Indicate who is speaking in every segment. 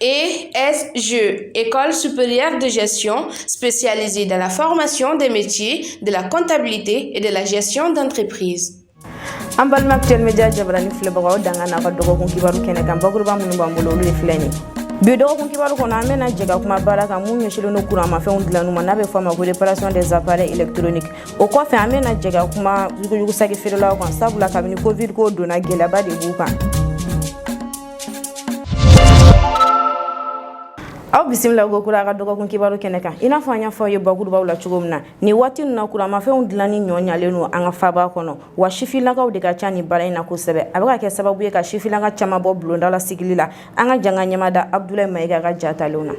Speaker 1: ESG, École supérieure de gestion spécialisée dans la formation des métiers de la comptabilité et de la gestion d'entreprise. an balima
Speaker 2: actuel média jabarani filɛbagaw danga n'a ka dɔgɔkun kibaru kɛnɛ kan bakuruba minnu b'an bolo olu ye filɛ nin bi dɔgɔkun kibaru kɔnɔ an bɛna jɛ ka kuma baara kan min ɲɛsinnen don kuranmafɛnw dilanniw ma n'a bɛ fɔ a ma ko réparation des appareils électroniques o kɔfɛ an bɛna jɛ ka kuma yuguyugu saki feerelaw kan sabula kabini covid ko donna gɛlɛyaba de b'u kan aw bisimila kokura a ka dɔgɔkun kibaru kɛnɛ kan i n'a fɔ an y'a fɔ ye bakurubaw la cogo min na nin waati na kuramafɛnw dilanni nɔgɔyalen don an ka faaba kɔnɔ wa sifilakaw de ka ca nin baara in na kosɛbɛ a bɛ ka kɛ sababu ye ka sifilaka caman bɔ bulonda la sigili la an ka jɛ k'an ɲɛ mada Abudulayi Mayiga ka ja talenw
Speaker 3: na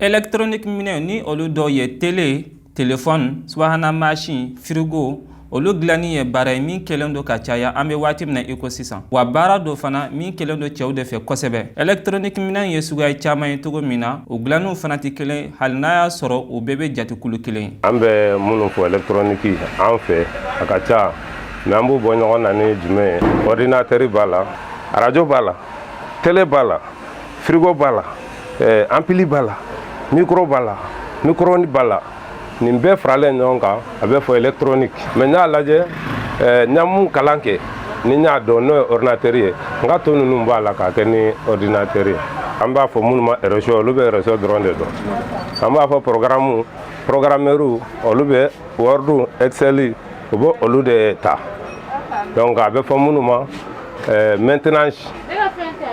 Speaker 3: ɛlɛkitɔrɔniki
Speaker 4: minɛn ni olu dɔw ye t telefɔni subahana mansin firigo olu dilanni ye baara ye min kɛlen don ka caya an bɛ waati min na i ko sisan wa baara don fana min kɛlen don cɛw de fɛ kosɛbɛ ɛlɛkitɔrɔniki minɛn ye suguya caman ye cogo min na o dilanniw fana tɛ kelen hali n'a y'a sɔrɔ o bɛɛ bɛ jate kulu kelen ye an bɛ minnu
Speaker 5: fɔ ɛlɛkitɔrɔniki an fɛ a ka ca mɛ an b'u bɔ ɲɔgɔn na ni jumɛn ye ɔridinatɛri b'a la arajo b'a la tele b'a la firigo b'a la ɛɛ anpili b'a la mikoro b'a la micro-ondes b'a la nin bɛɛ faralen ɲɔgɔn kan a bɛ fɔ ɛlɛkitɔrɔniki mɛ n y'a lajɛ ɛɛ n y'a min kalan kɛ ni n y'a dɔn n'o ye ɔridinatɛri ye nka tɔ ninnu b'a la k'a kɛ ni ɔridinatɛri ye an b'a fɔ minnu ma réseau olu bɛ réseau dɔrɔn de dɔn an b'a fɔ pɔrɔgaramu pɔrɔgaramɛriw olu bɛ wɔridu ɛkisɛli u bɛ olu de ta donc a bɛ fɔ minnu ma maintenance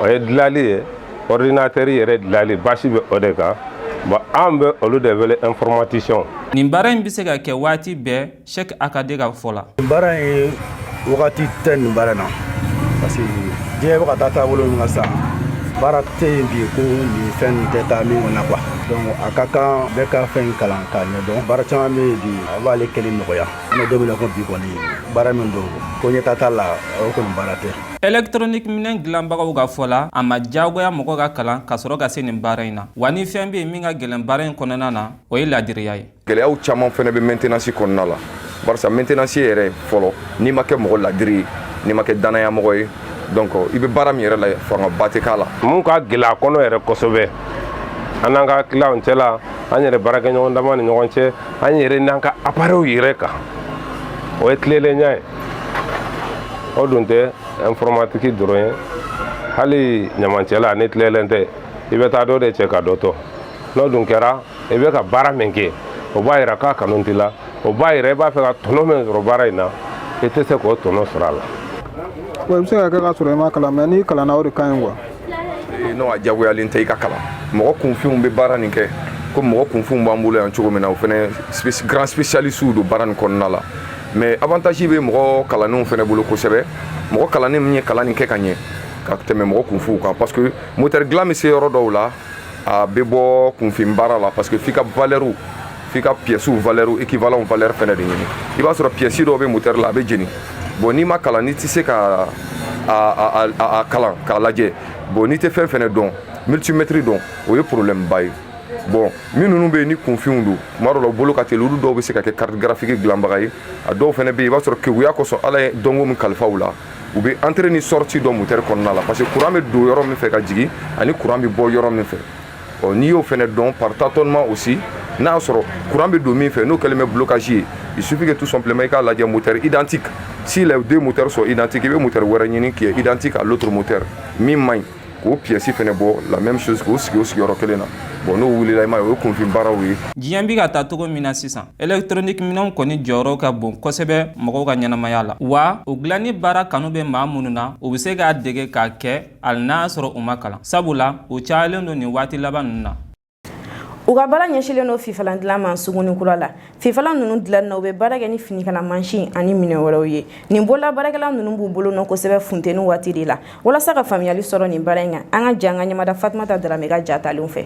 Speaker 5: o ye dilali ye ordinateur yɛrɛ dilali basi bɛ o de kan bon an bɛ olu de wele informaticien nin baara in bɛ
Speaker 4: se ka kɛ waati bɛɛ Cheick AKD ka fɔ la nin baara ye
Speaker 6: wagati tɛ nin baara na parce que diɲɛ bɛ ka taa taabolo min kan sisan baara tɛ yen bi ko nin fɛn nin tɛ taa min kɔnɔ quoi donc a ka kan bɛɛ ka fɛn kalan k'a ɲɛdɔn baara caman bɛ yen bi a b'ale kɛli nɔgɔya an bɛ don min na ko bi kɔni baara min don ko ɲɛtaa t'a la o kɔni baara tɛ Électronique
Speaker 4: minɛn dilanbagaw ka fɔ la, a ma diyagoya mɔgɔ ka kalan ka sɔrɔ ka se nin baara in na. Wa ni fɛn bɛ yen min ka gɛlɛn baara in kɔnɔna na, o ye laadiriya ye. Gɛlɛyaw caman fana bɛ
Speaker 3: maintenance kɔnɔna la. Barisa maintenance yɛrɛ fɔlɔ, n'i ma kɛ mɔgɔ laadiri ye, n'i ma kɛ dannaya mɔgɔ ye, donc i bɛ baara min yɛrɛ la, fangaba tɛ k'a la. Min ka gɛlɛn a
Speaker 5: kɔnɔ yɛrɛ kosɛbɛ, an n'an ka clients cɛla, an yɛrɛ baarakɛɲɔgɔn dama ni ɲɔgɔn cɛ, an yɛrɛ n'an ka appareils yɛrɛ kan, o ye tilelenya ye. o dun tɛ informatique dɔrɔn ye hali ɲamancɛla n'i tilennen tɛ i bɛ taa dɔ de cɛ ka dɔ to n'o dun kɛra i bɛ ka baara min kɛ o b'a yira k'a kanu t'i la o b'a yira i b'a fɛ ka tɔnɔ min sɔrɔ baara in na i tɛ se k'o tɔnɔ sɔrɔ a la. wa i bɛ se
Speaker 7: ka kɛ ka sɔrɔ i ma kalan mais n'i kalanna o de ka ɲi quoi. e,
Speaker 3: non a jagoyalen tɛ i ka kalan mɔgɔ kunfinw bɛ baara nin kɛ comme mɔgɔ kunfinw b'an bolo yan cogo min na o fɛnɛ grand spécialistes don baara nin kɔnɔna la mais avantage bɛ mɔgɔ kalannenw fɛnɛ bolo kosɛbɛ mɔgɔ kalannen min ye kalan nin kɛ ka ɲɛ ka tɛmɛ mɔgɔ kunfinw kan parce que moteur dilan bɛ se yɔrɔ dɔw la a bɛ bɔ kunfin baara la parce que f'i ka valeur f'i ka pièces valeur équivalent valeur fɛnɛ de ɲini i b'a sɔrɔ pièce dɔw bɛ moteur la a bɛ jeni bon n'i ma kalan n'i tɛ se ka a a kalan k'a lajɛ bon n'i tɛ fɛn fɛnɛ dɔn multimètre dɔn o ye problème ba ye bon minnu bɛ yen ni kunfinw don tuma dɔ la u bolo ka teli olu dɔw bɛ se ka kɛ carte graphique dilanbaga ye a dɔw fɛnɛ bɛ yen i b'a sɔrɔ keguya kosɔn ala ye dɔnko min kalifa u la u bɛ entrée ni sortie dɔn moteur kɔnɔna la parce que courant bɛ don yɔrɔ min fɛ ka jigin ani courant bɛ bɔ yɔrɔ min fɛ ɔ n'i y'o fɛnɛ dɔn par tâtonnement aussi n'a y'a sɔrɔ courant bɛ don min fɛ n'o kɛlen bɛ blocage ye il suffit que tout simplement i k'a lajɛ moteur identique si les deux moteurs sont identiques i bɛ moteur wɛrɛ ɲini qui est identique à l'autre moteur min man ɲi k'o pièce fɛnɛ bɔ la même chose k'o sigi o sigiyɔrɔ kelen na bon n'o wulila i m'a ye o ye kunfin baaraw ye diɲɛ bi ka taa
Speaker 4: cogo min na sisan elektroniki minɛnw kɔni jɔyɔrɔ ka bon kosɛbɛ mɔgɔw ka ɲɛnamaya la wa o dilanni baara kanu bɛ maa minnu na u bɛ se k'a dege k'a kɛ hali n'a sɔrɔ u ma kalan sabula u cayalen don nin waati laban ninnu na u
Speaker 2: ka baara ɲɛsilen don fifalan dilan ma suguni kura la fifalan ninnu dilanni na u bɛ baara kɛ ni finikala mansin ani minɛ wɛrɛw ye nin bolola baarakɛla ninnu b'u bolo nɔ kosɛbɛ funteni waati de la walasa ka faamuyali sɔrɔ nin baara in kan an ka jɛn k'an ɲɛmada fatumata daramɛ ka jatalenw fɛ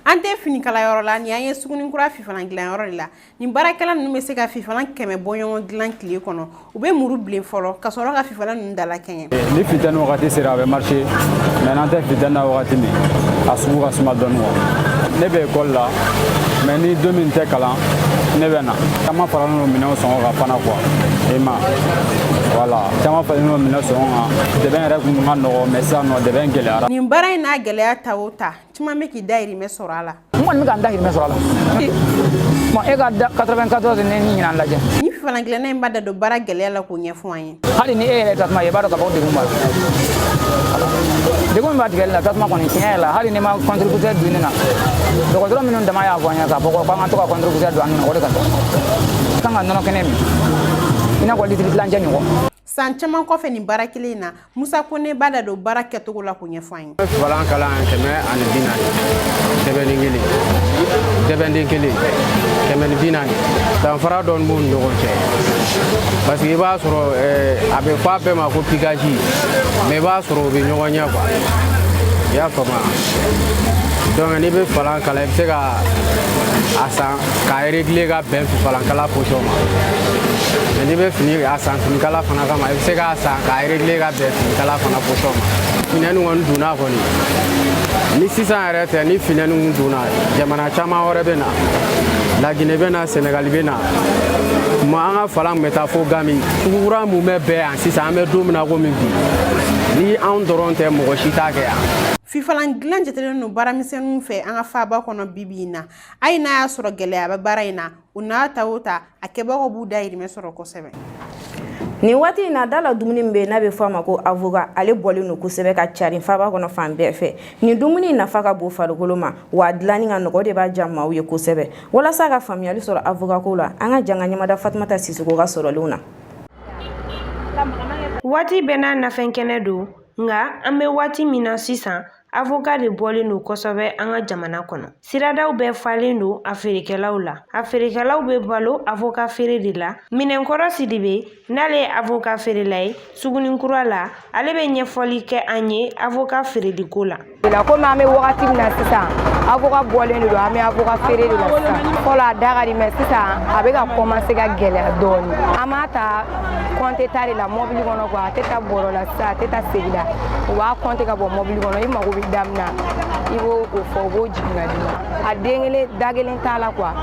Speaker 8: an tɛ finikala yɔrɔ la ni an ye suguni kura fifalan dilan yɔrɔ de la nin baarakɛla ninnu bɛ se ka fifalan kɛmɛ bɔ ɲɔgɔn dilan tile kɔnɔ u bɛ muru bilen fɔlɔ ka sɔrɔ ka fifalan ninnu da lakɛɲɛ eh, ni funteni wagati
Speaker 9: sera a bɛ marché mais n'an tɛ funteni na wagati min a sugu ka suma dɔɔni quoi ne bɛ ekɔli la mais ni don min tɛ kalan ne bɛ na caman faralen don minɛnw sɔngɔ kan fana quoi i ma voilà caman faralen don minɛn sɔngɔ kan dɛbɛn yɛrɛ kun ka nɔgɔ mais sisan nɔ dɛbɛn gɛlɛyara nin baara in n'a gɛlɛya
Speaker 8: ta o ta caman bɛ k'i dayirimɛ sɔrɔ a la n kɔni bɛ ka n dayirimɛ
Speaker 10: sɔrɔ a la bon e ka 94 ne ni ɲinan lajɛ nin fifalan dilanna in
Speaker 8: b'a da don baara gɛlɛya la k'o ɲɛfɔ an ye hali ni e yɛrɛ tasuma ye
Speaker 10: i b'a dɔn ka fɔ degun b'a la degun min b'a tigɛli la tasuma kɔni tiɲɛ yɛrɛ la hali n'i ma contributeur don i nun na dɔgɔtɔrɔ minnu dama y'a fɔ an ye k'a fɔ ko k'an ka to ka contributeur don an nun na o de ka kan ka nɔnɔ kɛnɛ min i n'a fɔ litiri tilancɛ ɲɔgɔn san caman kɔfɛ
Speaker 8: nin baara kelen in na musa kone b'a da don baara kɛcogo la k'o ɲɛfɔ an ye fifalankala
Speaker 11: kɛmɛ ani bi naani sɛbɛnden kelen sɛbɛnden kelen kɛmɛ ni bi naani danfara dɔɔni b'u ni ɲɔgɔn cɛ parce que i b'a sɔrɔ a bɛ fɔ a bɛɛ ma ko pikaji mais i b'a sɔrɔ u bɛ ɲɔgɔn ɲɛ quoi i y'a faamuya donc n'i bɛ fifalan kala i bɛ se ka a san k'a regile ka bɛn fifalankala position ma mɛ n'i bɛ fini a san finikala fana kama i bɛ se k'a san k'a regile ka bɛn finikala fana position ma funteni kɔni donna kɔni ni sisan yɛrɛ tɛ ni funteni kun donna jamana caman wɛrɛ bɛ na lagine bɛ na sɛnɛgali bɛ na ma an ka fifalan kun bɛ taa fo ganbi sugu kura mumɛ bɛɛ yan sisan an bɛ don min na komi bi ni anw dɔrɔn tɛ mɔgɔ si t'a kɛ yan fifalan dilan
Speaker 8: jatelen don baaramisɛnninw fɛ an ka faaba kɔnɔ bibi in na hali n'a y'a sɔrɔ gɛlɛya bɛ baara in na o n'a ta o ta a kɛbagaw b'u dayirimɛ sɔrɔ kosɛbɛ
Speaker 2: nin waati in na da la dumuni min bɛ yen n'a bɛ fɔ a ma ko avoka ale bɔlen don kosɛbɛ ka carin faaba kɔnɔ fan bɛɛ fɛ nin dumuni nafa ka bon farikolo ma wa a dilanni ka nɔgɔ o de b'a diya maaw ye kosɛbɛ walasa ka faamuyali sɔrɔ avoka ko la an ka jɛ k'an ɲɛmada fatumata sisoko ka sɔrɔlenw na
Speaker 12: waati bɛɛ n'a nafɛn kɛnɛ don nka an bɛ waati min na sisan Avoka de bɔlen don kosɛbɛ an ka jamana kɔnɔ siradaw bɛɛ falen don a feerekɛlaw la a feerekɛlaw bɛ balo avoka feere de la minɛnkɔrɔ sidibe n'ale ye avoka feerela ye sugunin kura la ale bɛ ɲɛfɔli kɛ an ye avoka feereli ko la komi an bɛ
Speaker 13: wagati min na sisan avoka bɔlen don an bɛ avoka feere de la sisan fɔlɔ a da ka di mɛ sisan a bɛ ka komanse ka gɛlɛya dɔɔnin an b'a ta kɔnte ta de la mɔbili kɔnɔ kuwa a tɛ taa bɔrɔ la a tɛ taa segi la u b'a kɔnte ka bɔ mɔbili kɔnɔ i mago bɛ da min na i b'o fɔ u b'o jigin ka d'i ma a den kelen da kelen t'a la kuwa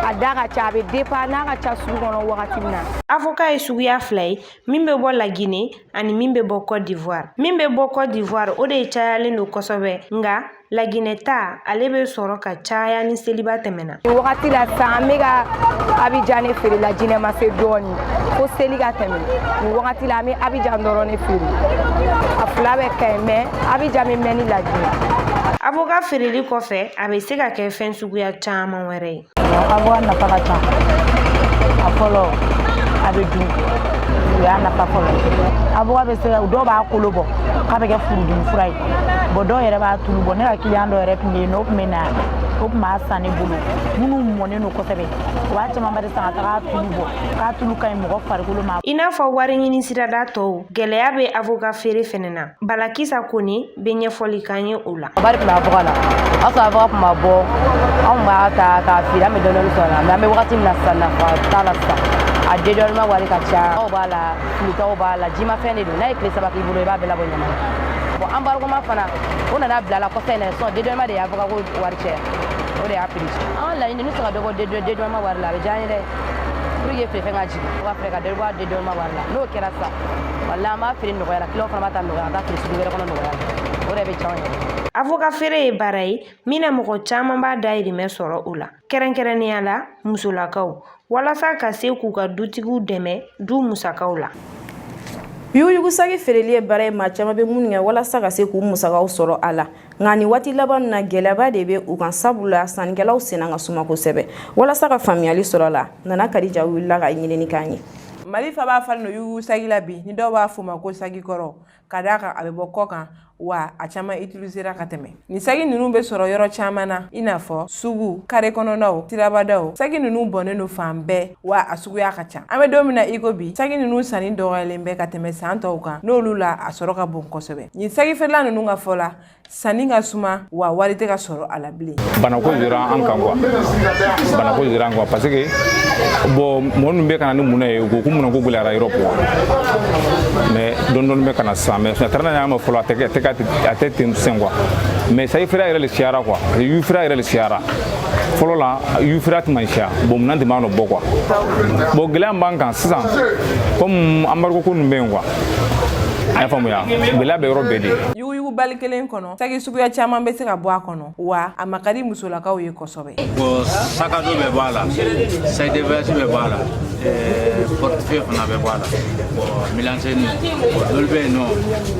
Speaker 13: a da ka ca a bɛ depan n'a ka ca sugu kɔnɔ wagati min na avoka ye
Speaker 12: suguya fila ye min bɛ bɔ lagine ani min bɛ bɔ cote d'ivoire min bɛ bɔ cote d'ivoire o de cayalen don kosɛbɛ nka laginɛ ta ale bɛ sɔrɔ ka caya ni seliba tɛmɛna nin wagati la sisan
Speaker 13: an bɛ ka abijan ne feere lajinɛ ma se dɔɔni fo seli ka tɛmɛ nin wagati la an bɛ abijan dɔrɔn ne feere a fila bɛɛ ka ɲi mɛ abijan bɛ mɛn ni lajinɛ avoka feereli
Speaker 12: kɔfɛ a bɛ se ka kɛ fɛn suguya caman wɛrɛ ye avoka nafa ka
Speaker 13: ca a fɔlɔ a bɛ dun o y'a nafa fɔlɔ avoka bɛ se ka dɔw b'a kolo bɔ k'a bɛ kɛ furudimi fura ye bɔn dɔw yɛrɛ b'a tulu bɔ ne ka kiliyan dɔ yɛrɛ tun bɛ yen n'o tun bɛ na o tun b'a san ne bolo minnu mɔnen don kosɛbɛ o b'a camanba de san ka taga tulu bɔ k'a tulu ka ɲi mɔgɔ farikolo ma i n'a fɔ wari ɲini
Speaker 12: sirada tɔw gɛlɛya bɛ avoka feere fɛnɛ na balakisa kone bɛ ɲɛfɔli k'an ye o la wari tun bɛ avoka
Speaker 13: la o y'a sɔrɔ avoka tun ma bɔ anw b'a ta k'a feere an bɛ dɔɔnin sɔrɔ a la mɛ an bɛ wagati min na sisan nafa t'a la sisan a dédouanement wari ka ca aw b'a la filitaw b'a la jimafɛn de don n'a ye tile saba k'i bolo i b'a bɛɛ labɔ ɲaman bon embarquement fana o nana bila la kɔfɛ in na sisan dédouanement de ye avoka ko wari caya o de y'a piri an laɲini n'u se ka dɔ bɔ dédouanement wari la a bɛ diya an ye dɛ pour que feere fɛn ka jigin o ka fɛɛrɛ ka dɔ bɔ a dédouanement wari la n'o kɛra sisan Walahi an b'a feere nɔgɔya la kiliyan fana b'a ta nɔgɔya an b'a feere sugu wɛrɛ kɔnɔ nɔgɔya la o de bɛ diya an ye avoka feere ye
Speaker 12: baara ye min na mɔgɔ caman b'a dayirimɛ sɔrɔ o la kɛrɛnkɛrɛnnenya la musolakaw walasa ka se k'u ka dutigiw dɛmɛ du musakaw
Speaker 2: la yuguyugusaki feereli ye baara ye maa caman bɛ minnu kɛ walasa ka se k'u musakaw sɔrɔ a la nka nin waati laban na gɛlɛyaba de bɛ u kan sabu la sannikɛlaw senna ka suma kosɛbɛ walasa ka faamuyali sɔrɔ a la nana kadija wulila ka ɲinini k'an ye mali
Speaker 14: faaba falen don yugu sagi la bi ni dɔw b'a fɔ ma ko sagi kɔrɔw ka d'a kan a bɛ bɔ kɔkan wa a caman utilisera ka tɛmɛ nin sagi ninnu bɛ sɔrɔ yɔrɔ caman na i n'a fɔ suguw kare kɔnɔnaw sirabadaw sagi ninnu bɔnnen don fan bɛɛ wa a suguya ka ca an bɛ don min na iko bi sagi ninnu sanni dɔgɔyalen bɛ ka tɛmɛ san tɔw kan n'olu la a sɔrɔ ka bon kosɛbɛ nin sagifeerela ninnu ka fɔ la sanni ka suma wa wari tɛ ka sɔrɔ a la bilen banako yera an kan
Speaker 9: kuwa banako yera an kan parce que bon mɔgɔ ninnu bɛ ka na ni mun ye u ko ko mun na ko gɛlɛyara Erɔpu kuwa mɛ dɔɔni dɔɔni bɛ ka na sisan mɛ a taara n'a y'a ma fɔlɔ a tɛ a tɛ ten sisan kuwa mɛ sagifeerela yɛrɛ le siyara kuwa yufeerela yɛrɛ le siyara fɔlɔ la yufeere tun man siya bon minɛn tun b'a nɔ bɔ kuwa bon gɛlɛya min b'an kan sisan komi embargo ko ninnu bɛ yen kuwa a y'a faamuya gɛlɛya bɛ yɔrɔ bɛɛ de yuguyugu bali kelen
Speaker 14: kɔnɔ saki suguya caman bɛ se ka bɔ a kɔnɔ wa a ma ka di musolakaw ye kosɛbɛ bon
Speaker 15: sakado bɛ bɔ a la saidevɛsi bɛ bɔ a la portefeuille fana bɛ bɔ a la bon milanseni olu bɛ yen nɔ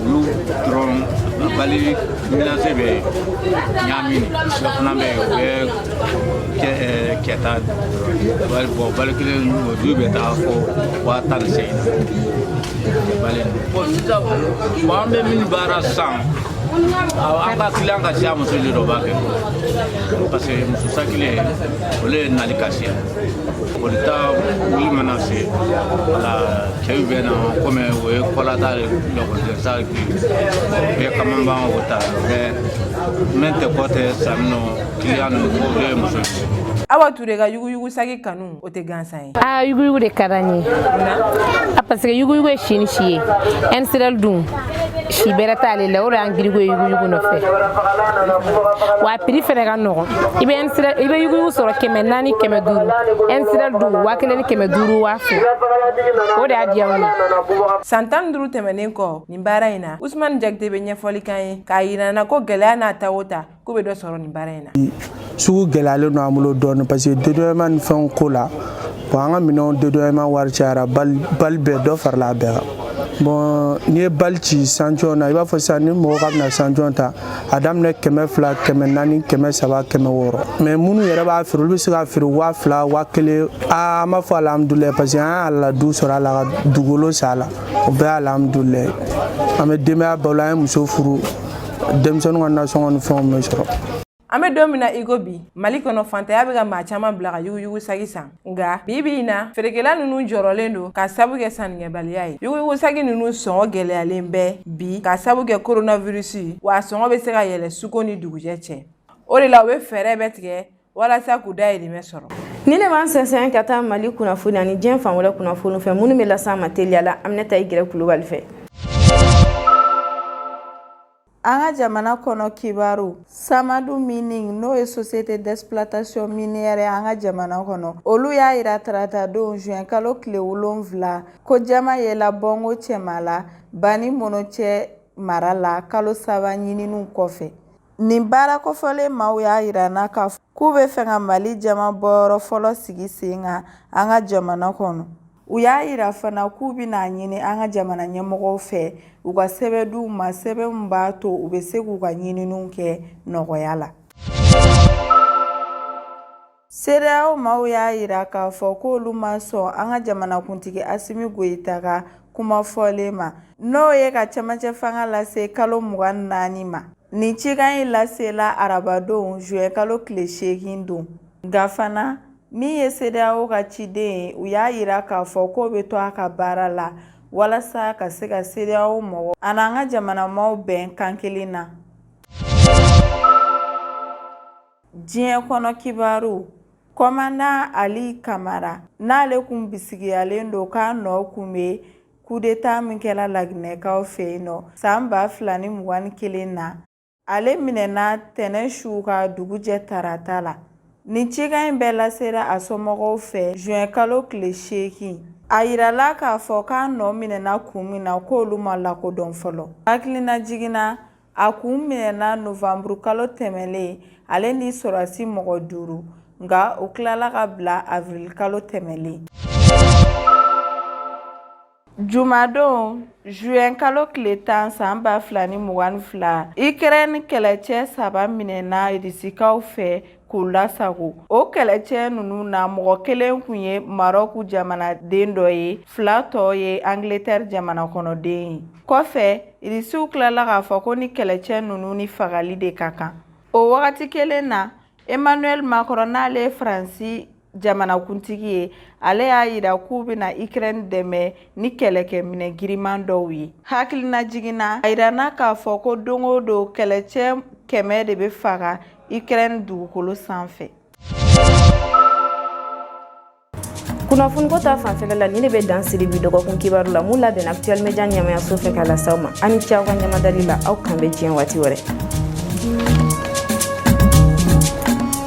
Speaker 15: olu dɔrɔn bali Milanse bɛ yen ɲaami dɔ fana bɛ yen o bɛ kɛ kɛta bali bon bali kelen olu bɛ taa fɔ waa tan ni seegin na bali bon sisan bon an bɛ min baara san an ka kiliyan ka siya muso de dɔ b'a kɛ parce que muso sakilen olu ye nali ka siya olu ta wuli mana se wala cɛw bɛ na komi o ye kɔlata de lakɔliden bɛɛ kaman b'an o ta bɛɛ min tɛ kɔ tɛ sanni nɔ kiliyan ninnu o bɛɛ ye muso awa ture ka
Speaker 14: yuguyugu sagi kanu o tɛ gansan ye a yuguyugu de ka d'an ye
Speaker 16: a parce que yuguyugu ye si ni si ye ɛnsirɛl dun si bɛrɛ t'ale la o de y'an girinko ye yuguyugu nɔfɛ wa a piri fɛnɛ ka nɔgɔn i bɛ ɛnsirɛl i bɛ yuguyugu sɔrɔ kɛmɛ naani kɛmɛ duuru ɛnsirɛl dun waa kelen ni kɛmɛ duuru waa fila o de y'a diya n ye san tan ni duuru
Speaker 14: tɛmɛnen kɔ nin baara in na usumani jakite bɛ ɲɛfɔli kan ye k'a yira an na ko gɛlɛya n'a ta o ta k'u bɛ dɔ sɔrɔ nin baara in na sugu gɛlɛyalen
Speaker 6: don an bolo dɔɔni parce que dédouanement ni fɛnw ko la bon an ka minɛnw dédouanement wari cayara bali bɛɛ dɔ farala a bɛɛ kan bon n'i ye bali ci sanjɔn na i b'a fɔ sisan ni mɔgɔ ka bɛna sanjɔn ta a daminɛ kɛmɛ fila kɛmɛ naani kɛmɛ saba kɛmɛ wɔɔrɔ mais minnu yɛrɛ b'a feere olu bɛ se ka feere waa fila waa kelen aa an b'a fɔ alihamudulilayi parce que an y'a la du sɔrɔ a la ka dugukolo san a la o bɛɛ ye alhamdulilayi an bɛ denbaya balo an ye muso furu denmisɛnninw ka nasɔngɔ ni fɛnw bɛ sɔrɔ an bɛ don min na
Speaker 14: i ko bi mali kɔnɔ fantanya bɛ ka maa caman bila ka yuguyugu sagi san nka bi bi in na feerekɛla ninnu jɔrɔlen don k'a sabu kɛ sannikɛbaliya ye yuguyugu sagi ninnu sɔngɔ gɛlɛyalen bɛ bi k'a sabu kɛ koronavirisi wa a sɔngɔ bɛ se ka yɛlɛ su ko ni dugujɛ cɛ o de la u bɛ fɛɛrɛ bɛɛ tigɛ walasa k'u dayirimɛ sɔrɔ ni ne b'an
Speaker 2: sɛnsɛn ka taa mali kunnafoni ani diɲɛ fan wɛrɛ kunnafoni fɛ minnu bɛ las'an ma teliya la aminata igirɛ kulubali fɛ
Speaker 17: an ka jamana kɔnɔ kibaru samadu mining n'o ye société d'exploitation minière ye an ka jamana kɔnɔ olu y'a yira taratadon juin kalo tile wolonfila ko jaman yela bɔngo cɛmala banimonocɛ mara la kalo saba ɲininiw kɔfɛ Nin baara kɔfɔlen maaw y'a yira an na k'a fɔ k'u bɛ fɛ ka Mali jaman bɔyɔrɔ fɔlɔ sigi sen kan an ka jamana kɔnɔ. U y'a yira fana k'u bɛna a ɲini an ka jamana ɲɛmɔgɔw fɛ u ka sɛbɛn d'u ma sɛbɛn min b'a to u bɛ se k'u ka ɲininiw kɛ nɔgɔya la. CEDEAO maaw y'a yira k'a fɔ ko olu ma sɔn an ka jamanakuntigi asimi goyita ka kuma fɔlen ma n'o ye ka cɛmancɛ fanga lase kalo mugan ni naani ma nin cikan in lasela arabadon juin kalo tile seegin don nka fana min ye CEDEAO ka ciden ye u y'a yira k'a fɔ k'o bɛ to a ka baara la walasa ka se ka CEDEAO mɔgɔ ani an ka jamanamaw bɛn kan kelen na diɲɛ kɔnɔ kibaru komandan ali kamara n'ale kun bisigiyalen don k'a nɔ kun bɛ kudeta min kɛla laginɛkaw fɛ yen nɔ san ba fila ni mugan ni kelen na ale minɛna tɛnɛn su ka dugu jɛ tarata la nin cikan in bɛɛ lasera a somɔgɔw fɛ juin kalo tile seegin a yirala k'a fɔ k'a nɔ minɛna kun min na k'olu ma lakodɔn fɔlɔ hakilinajigin na A kun minɛna novanburu kalo tɛmɛnlen ale ni sɔrɔdasi mɔgɔ duuru nka u tilala k'a bila avril kalo tɛmɛnlen Jumadon juin kalo tile tan san ba fila ni mugan ni fila Ukraine kɛlɛcɛ saba minɛna Rusikaw fɛ k'u lasago o kɛlɛcɛ ninnu na mɔgɔ kelen kun ye marɔku jamanaden dɔ ye fila tɔ ye angletɛri jamana kɔnɔden ye kɔfɛ irisiw tilala k'a fɔ ko ni kɛlɛcɛ ninnu ni fagali de ka kan o wagati kelen na emmanuel macron n'ale ye faransi jamanakuntigi ye ale y'a yira k'u bɛna ukraine dɛmɛ ni kɛlɛkɛminɛ giriman dɔw ye hakilinajigin na a yirana k'a fɔ ko don o don kɛlɛcɛ kɛmɛ de bɛ faga ukraine dugukolo sanfɛ
Speaker 2: kunnafoniko ta fanfɛla la nin de bɛ dan siri bi dɔgɔkun kibaru la mun labɛnna actuel media ɲɛmaayaso fɛ k'a lase aw ma a ni ce aw ka ɲɛmadali la aw k'an bɛn diɲɛ waati wɛrɛ